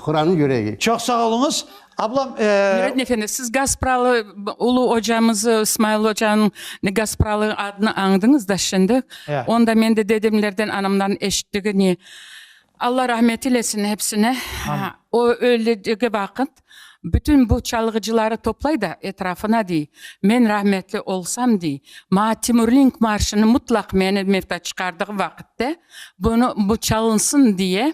Speaker 1: Quranı yüregi. Çoq sağ oluñız, ablam. Nureddin efendi, siz Gaspralı ulu ocamızı, İsmail ocanıñ Gaspralı adını añdıñız da şimdi. Ya. Onu da men de dedemlerden, anamdan eşittigini. Alla rahmet eylesin hepsine. Amin. O öldügi vaqıt bütün bu çalğıcıları toplay da etrafına dey, men rahmetli olsam dey, maña Timurlink marşını mutlaq meni mevta çıqardığı vaqıtte bunı, bu çalınsın diye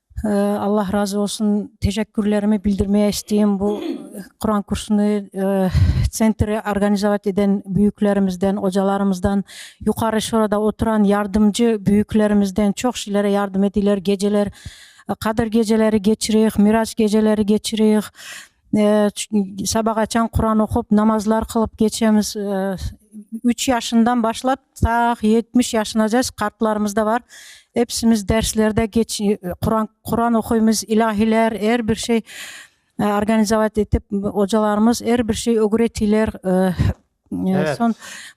Speaker 1: Allah razı olsun, teşekkürlerimi bildirmeye isteyim bu Quran kursunu tsentri organizavat eden büyüklerimizden, ocalarımızdan, Yuqarı Şurada oturan yardımcı büyüklerimizden, çoq şeylere yardım edeyler, geceler Qadr geceleri keçireyik, Miraç geceleri keçireyik. Saba qaçan Quran oqup, namazlar qılıp keçemiz. Üç yaşından başlap ta yetmiş yaşınacas qartlarımız da bar. Episimiz derslerde Quran, Quran oquymız, ilâhiler, er bir şey organizavat etip, ocalarımız er bir şey ögretiyler. Soñ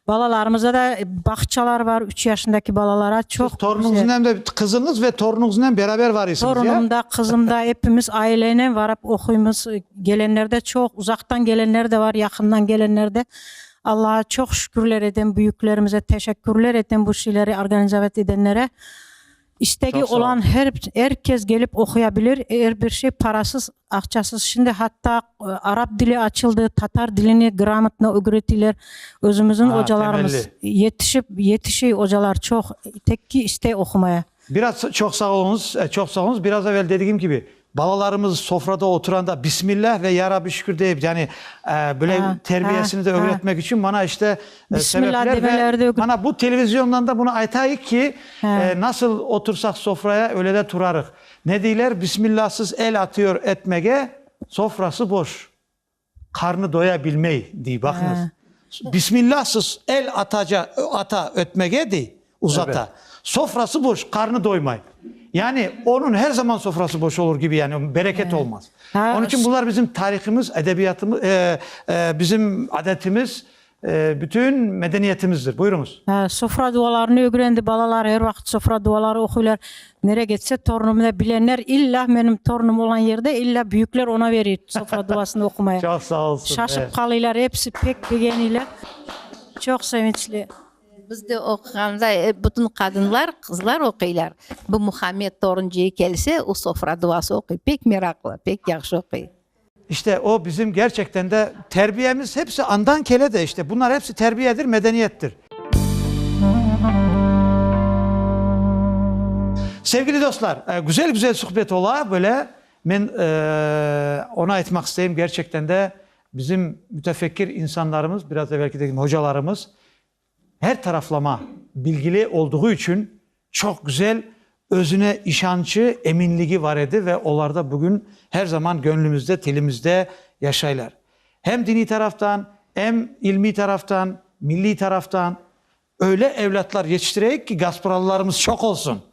Speaker 1: balalarımızda da bağçalar bar, üç yaşındaki balalara çoq. Torunıñıznen de, qızıñız ve torunıñıznen beraber varıysıñız, ya? Torunım da, qızım da, epimiz aileyle varıp oquymız. Kelenler de çoq, uzaqtan kelenler de var, yaqından kelenler de. Allağa çoq şükürler etem, büyüklerimize teşekkürler etem bu şeyleri organizavet edenlere. İstegi olan er kes kelip oquya bilir, er bir şey parasız, aqçasız. Şimdi hatta arap dili açıldı, tatar dilini gramotno ögretiler. Özümüzün ocalarımız yetişip, yetişi ocalar çoq, tek ki istey oqumaya. Biraz çoq sağ oluñız, çoq sağ oluñız. Biraz evel dedigim kibi, Balalarımız sofrada oturanda Bismillah ve Ya Rabbi şükür deyip, yani böyle terbiyesini de ögretmek içün bana işte sebepler ve bana bu televizyondan da bunu aytayıq ki, nasıl otursaq sofraya öyle de turarıq. Ne deyler? Bismillahsız el atıyor etmege, sofrası boş. Qarnı doya bilmey, dey, baqıñız. Bismillah siz el ataca, ata, ötmege, dey, uzata. Sofrası boş, qarnı doymay. Yani onıñ her zaman sofrası boş olur kibi, yani bereket olmaz. Onıñ içün bunlar bizim tarihimiz, edebiyatımız, bizim adetimiz, Bütün medeniyetimizdir. Buyurıñız. Sofra dualarını ögrendi balalar, er vaqıt sofra duaları oquylar. Nere ketse torunımda bilenler illa menim torunım olan yerde illa büyükler ona verir sofra duasını oqumaya. Çoq sağ olsunlar. Şaşıp qalıylar, episi pek begeniyler. Çoq sevinçli. Biz de oqığanda bütün qadınlar, qızlar oquylar. Bu Muhammed torun ceyi kelse, o sofra duası oquy. Pek meraqlı, pek yahşı oquy. İşte, o bizim gerçekten de terbiyemiz hepsi andan kele de işte. Bunlar hepsi terbiyedir, medeniyettir. Sevgili dostlar, güzel-güzel suhbet ola böyle. Men onu aytmaq isteyim, gerçekten de bizim mütefekkir insanlarımız, biraz evelki dedim, hocalarımız Her taraflama, bilgili olduğu içün çoq güzel, özüne işançı, eminligi var edi ve olar da bugün her zaman göñlümizde, tilimizde yaşaylar. Hem diniy taraftan, em ilmiy taraftan, milliy taraftan. Öyle evlâtlar yetiştireyik ki, gaspıralılarımız çoq olsun!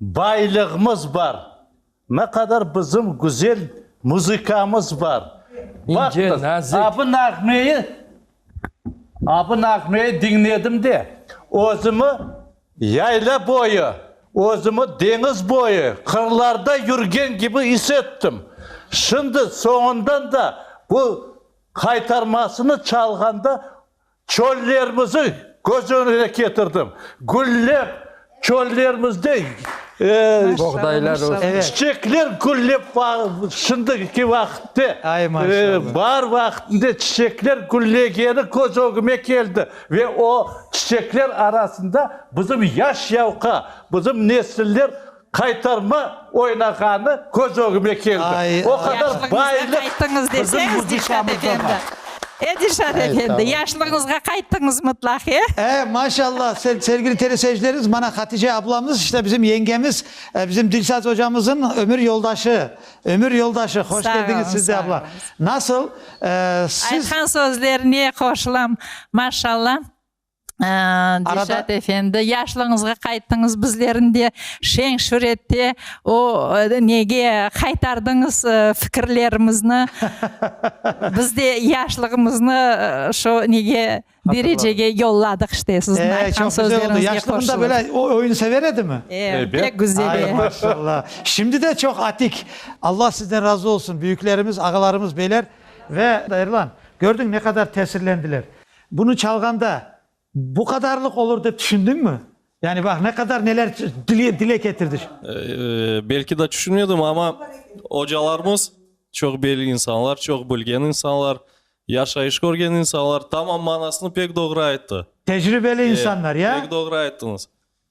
Speaker 1: Baylığımız bar. Ne qadar bizim güzel muzıkamız bar. İnce, nazik. Baqıñız, bu nağmeyi, bu nağmeyi diñledim de, özümi yayla boyu, özümi deñiz boyu, qırlarda yürgen kibi is ettim. Şimdi soñundan da bu qaytarmasını çalğanda Çöllermizi köz öñüne ketirdim. Güllep çöllerimizde Buğdaylar ösüp. Çiçekler güllep şimdiki vaqıtte, baar vaqıtında çiçekler güllegeni köz ögüme keldi. Ve o çiçekler arasında bizim yaş yavqa, bizim nesiller Qaytarma oynağanı köz ögüme keldi. O qadar bayılıq bizim muzıkamızda bar. E, Dilşat efendi, yaşlığıñızğa qayttıñız mıtlaq, e? E, maşallah, sevgili teleseyircilerimiz, mana Hatice ablamız, işte bizim yengemiz, bizim Dilşat ocamızın ömür yoldaşı, ömür yoldaşı. Hoş keldiñiz siz de abla. Nasıl, siz. Aytqan sözlerine qoşulam, maşallah. Dilşat efendi, yaşlığıñızğa qayttıñız, bizlerni de şeñ-şür ette, o nege qaytardıñız fikirlerimizni? Biz de yaşlığımıznı şu nege, derecege yolladıq işte, siziñ aytqan sözleriñizge qoşılıp. Çoq güzel oldı. Yaşlığında böyle oyun sever edimi? E, pek güzel. Ay, maşallah. Şimdi de çoq atik. Allah sizden razı olsun, büyüklerimiz, ağalarımız beyler. Ve Erlan, gördüñ ne qadar tesirlendiler. Bunı çalğanda bu qadarlıq olur dep tüşündiñmi? Yani baq, ne qadar neler dile ketirdi. Belki de tüşünmedim, amma ocalarımız çoq belli insanlar, çoq bilgen insanlar, yaşayış körgen insanlar, tamam manasını pek doğru ayttı. Tecribeli insanlar, ya? Pek doğru ayttıñız.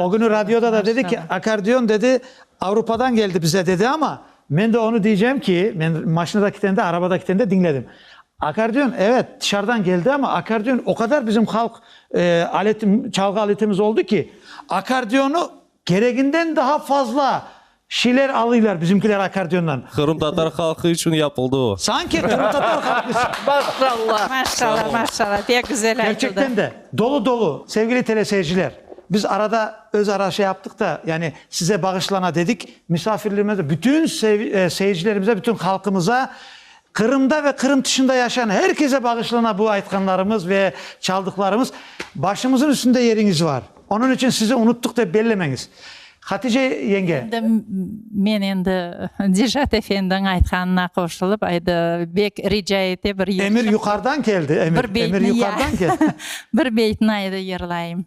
Speaker 1: O günü radioda da dedi ki, akardion, dedi, Avrupadan geldi bize, dedi, ama men de onı diycem ki, men maşinada kitende, arabada kitende diñledim. Akardion, evet, tışarıdan geldi, ama akardion o qadar bizim halq aleti, çalğı aletimiz oldı ki, akardionı kereginden daa fazla Şiler alıylar bizimkiler akkordeondan. Qırımtatar halqı içün yapıldı o. Sanki qırımtatar halqı içün. Maşallah. Maşallah, maşallah, pek güzel aytıldı. Kerçekten de, dolu dolu. Sevgili teleseyirciler, biz arada öz ara şey yaptıq da, yani size bağışlana dedik, misafirlerimize, bütün seyircilerimize, bütün halqımıza Qırımda ve Qırım tışında yaşayan her kese bağışlana bu aytqanlarımız ve çaldıqlarımız. Başımızın üstünde yeriñiz var. Onıñ içün sizi unuttıq dep bellemeñiz. Hatice yenge. Endi men endi Dilşat efendiñ aytqanına qoşulıp, endi bek rica ete bir. Emir yuqarıdan keldi, emir. Emir yuqarıdan keldi. Bir beytni endi yırlayım.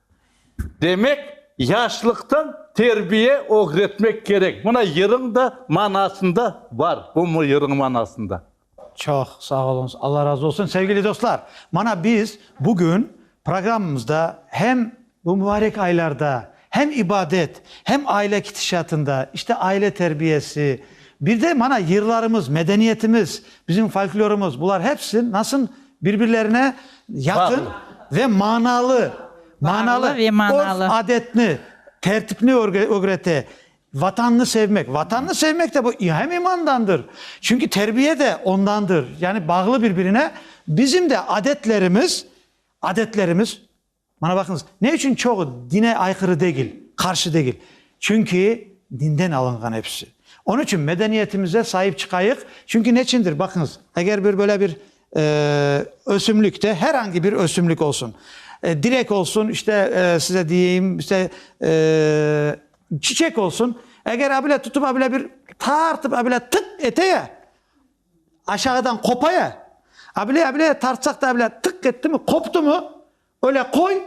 Speaker 1: Demek, yaşlıqtan terbiye ögretmek kerek. Mına yırıñ da manasında bar, bu yırıñ manasında. Çoq sağ oluñız, Alla razı olsun. Sevgili dostlar, mana biz bugün programmamızda hem bu mübarek aylarda hem ibadet, hem aile kitişatında, işte aile terbiyesi, bir de mana yırlarımız, medeniyetimiz, bizim folklorumız, bular hepsi nasıl Birbirlerine yaqın ve manalı, manalı örf-adetni, tertipni ögrete. Vatannı sevmek, vatannı sevmek de bu hem imandandır, çünki terbiye de ondandır, yani bağlı birbirine. Bizim de adetlerimiz, adetlerimiz. Mana baqıñız, ne içün çoğu dine ayqırı degil, qarşı degil? Çünki dinden alınğan episi. Onıñ içün medeniyetimize saip çıqayıq, çünki neçindir, baqıñız, eger bir böyle bir ösümlik de, her angi bir ösümlik olsun, direk olsun, işte, size deyim, işte, çiçek olsun, eger a bile tutıp, a bile bir tartıp, a bile tık ete ya, Aşağıdan qopaya, abile, abile, tartsaq da abile, tıq etti mi, qoptı mı, öyle qoy,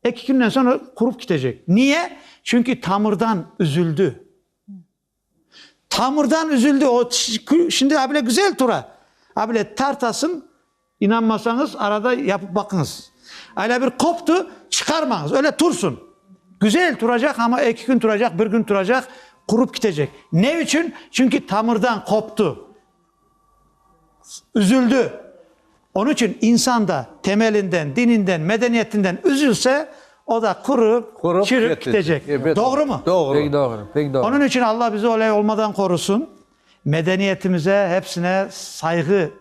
Speaker 1: eki künden soñ o qurup kitecek. Niye? Çünki tamırdan üzüldi. Tamırdan üzüldi, o şimdi abile güzel tura, abile tartasıñ, İnanmasañız, arada yapıp baqıñız. Öyle bir qoptı, çıqarmañız, öyle tursın. Güzel turacaq, amma eki kün turacaq, bir kün turacaq, qurup kitecek. Ne içün? Çünki tamırdan qoptı, üzüldi. Onıñ içün insan da temelinden, dininden, medeniyetinden üzülse, o da qurıp, Qurup çürüp ketecek. kitecek. Elbet. Doğrumı? Doğru. Pek doğru, pek doğru. Onıñ içün Allah bizi öyle olmadan qorusın. Medeniyetimize, hepsine sayğı.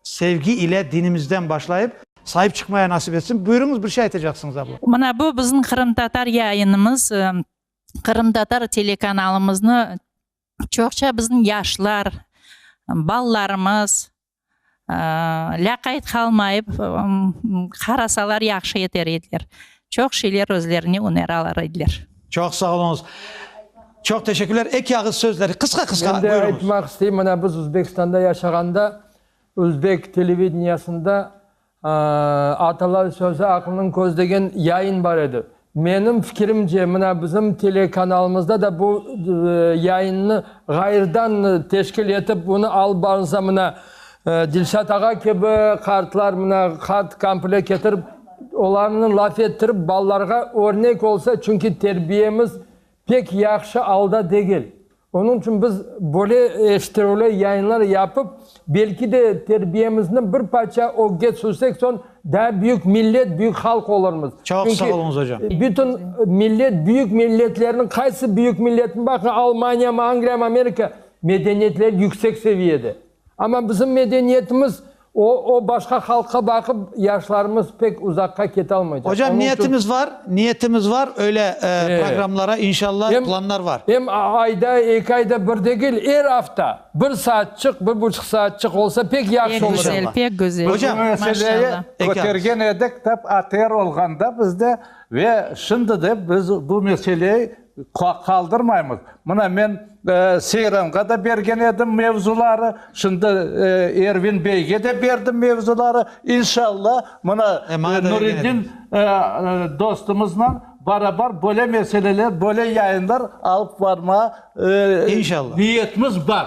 Speaker 1: Sevgi ile dinimizden başlayıp. Saip çıqmaya nasip etsin. Buyurıñız, bir şey aytacaqsıñız, abla. Mına bu bizim qırımtatar yayınımız, qırımtatar telekanalımıznı çoqça bizim yaşlar, balalarımız lâqayt qalmayıp qarasalar yahşı eter ediler. Çoq şeyler özlerine öneralar ediler. Çoq sağ oluñız. Çoq teşekkürler. Eki ağız sözler, qısqa qısqa, buyuruñız. Men de aytmaq isteyim, mına biz Uzbekistanda yaşağanda, Uzbek televideniasında Atalar sözü aqlınıñ közü degen yayın bar edi. Menim fikirimce, mına bizim telekanalımızda da bu yayınnı ğayırdan teşkil etip, bunı alıp barılsa, mına Dilşat ağa kibi qartlar mına qart kample ketirip, olarnı laf ettirip, balalarğa örnek olsa, çünki terbiyemiz pek yahşı alda degil. Onıñ içün biz böyle eşittirüvli yayınlar yapıp, belki de terbiyemizni bir parça ögge tüşürsek, soñ daa büyük millet, büyük halq olurmız. Çoq sağ oluñız, ocam. Bütün millet, büyük milletlerniñ, qaysı büyük milletni baqıñ, Almaniyamı, Angliyamı, Amerika, medeniyetleri yüksek seviyede. Amma bizim medeniyetimiz o o başqa halqqa baqıp yaşlarımız pek uzaqqa ketalmaycaq. Ocam Onıñ içün niyetimiz var, niyetimiz var öyle e, E, programlara inşallah em planlar var. em a ayda, eki ayda bir degil, er afta bir saatçıq, bir buçuq saatçıq olsa pek Pek yahşı olur. güzel, İnşallah. pek güzel. Biz bu Hocam, meseleyi maşallah. Eki ağız. kötergen edik, tap ATR olğanda bizde ve şimdi de biz bu meseleyi Qaldırmaymız. Mına men Seyranğa da bergen edim mevzuları, şimdi Ervin beyge de berdim mevzuları. İnşallah, mına Nuriddin dostumızla barabar böyle meseleler, böyle yayınlar alıp barmağa niyetimiz bar.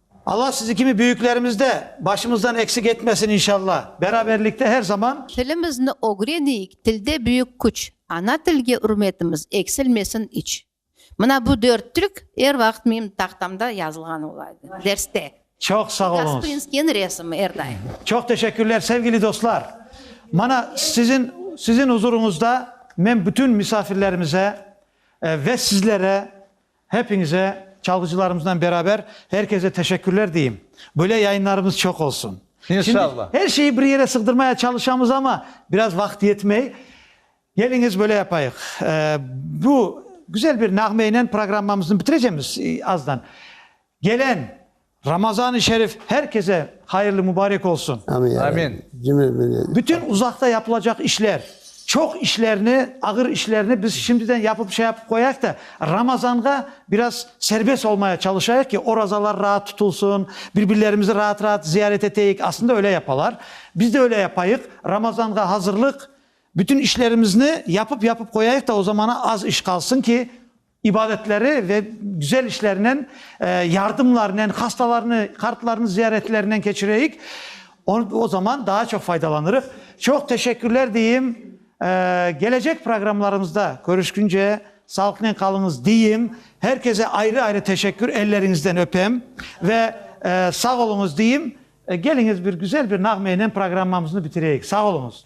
Speaker 1: Alla sizi kimi büyüklerimiz de başımızdan eksik etmesin inşalla. Beraberlikte her zaman. Tilimizni ögreniyik, tilde büyük küç, ana tilge ürmetimiz eksilmesin iç. Mına bu dört türk er vaqıt menim tahtamda yazılğan olaydı, derste. Çoq sağ oluñız. Gasprinskiyniñ resimi er daim. Çoq teşekkürler, sevgili dostlar. Mana sizin sizin uzuruñızda men bütün misafirlerimize ve sizlere Hepiñize, çalğıcılarımıznen beraber her kese teşekkürler deyim. Böyle yayınlarımız çoq olsun. İnşallah. Her şeyi bir yere sığdırmaya çalışamız ama biraz vaqıt yetmey. Geliñiz böyle yapayıq. Bu güzel bir nağmeynen programmamıznı bitirecemiz azdan. Gelen. Ramazan-ı şerif her kese hayırlı mubarek olsun. Amin ya Amin. Rabbi. Cümle millet. Bütün uzaqta yapılacaq işler, çoq işlerni, ağır işlerni biz şimdiden yapıp şey yapıp qoyayıq da, Ramazanğa biraz serbest olmaya çalışayıq ki, orazalar raat tutulsın, bir-birlerimizni raat-raat ziyaret eteyik. Aslında öyle yapalar. Biz de öyle yapayıq. Ramazanğa hazırlıq, bütün işlerimizni yapıp-yapıp qoyayıq da, o zamana az iş qalsın ki, ibadetleri ve güzel işlerinen, yardımlarınen, hastalarnı, qartlarnı ziyaretlerinden keçireyik. O zaman daa çoq faydalanırıq. Çoq teşekkürler deyim. Gelecek programlarımızda körüşkünce sağlıqnen qalıñız deyim. Her kese ayrı-ayrı teşekkür, elleriñizden öpem ve sağ oluñız deyim. Keliñiz bir güzel bir nağmeynen programmamıznı bitireyik. Sağ oluñız.